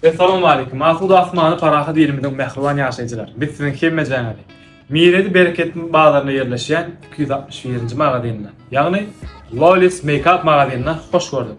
Essalawmaleýkum, asuda asmany parahat ilimiziň mähriban ýaşaýjylary! Biz siziň hemmejaňyzy Miredi Bereketiniň bazaryna ýerleşýän iki ýüz altmyş birinji magazynda, ýagny Lolly's Makeup magazynda hoş gördük.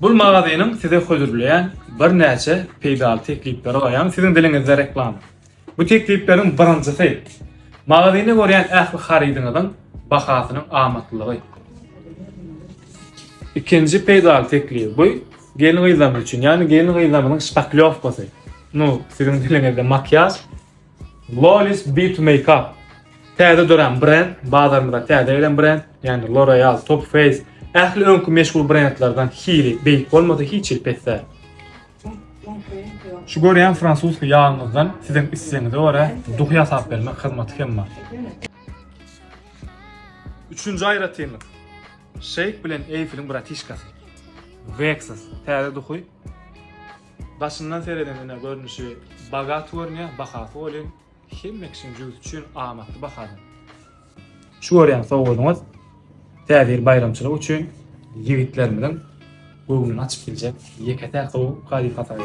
Bul magazynyň size hödürleýän birnäçe peýdaly teklipleri bar, ýagny siziň diliňizde reklama. Bu teklipleriň birinjisi, magazynda görýän ähli harydyňyzyň bahasynyň amatlylygy. Ikinji peýdaly teklip bu gelin-gyzlarymyz üçin, ýagny gelin-gyzlarymyzyň şpaklýowkasy. Nu, siziň diliňizde makiýaž, Flawless Beat Makeup täze dörän brend, bazarymyza täze gelen brend, ýagny L'Oreal, Top Face, ähli öňki meşhur brendlerden hili beýik bolmasa hiç hili pes däl. Şu görýän fransuski ýagymyzdan siziň islegiňize görä duhy ýasap bermek hyzmaty hem bar. Üçünji aýratynlyk. Şeýk bilen Eýfeliň bratişkasy. Vexus täze duhy. Daşyndan seredeniňde görnüşi bagat görünýär, bahasy welin hemme kişiniň jübüsi üçin amatly bahadan. Şu görýän sowgadyňyz Täze ýyl baýramçylygy üçin ýigitlerimiziň göwnüni açyp biljek ýeke-täk gowy hadysa hasap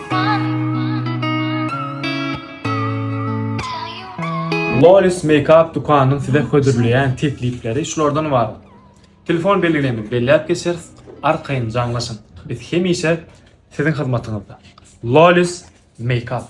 Lolis Makeup dükanynyň size hödürleýän teklipleri şulardan bar. Telefon belgilerini belläp geçeris, arkaýyn jaňlaşyň. Biz hemişe Siziň hyzmatyňyzda. Lolis Makeup.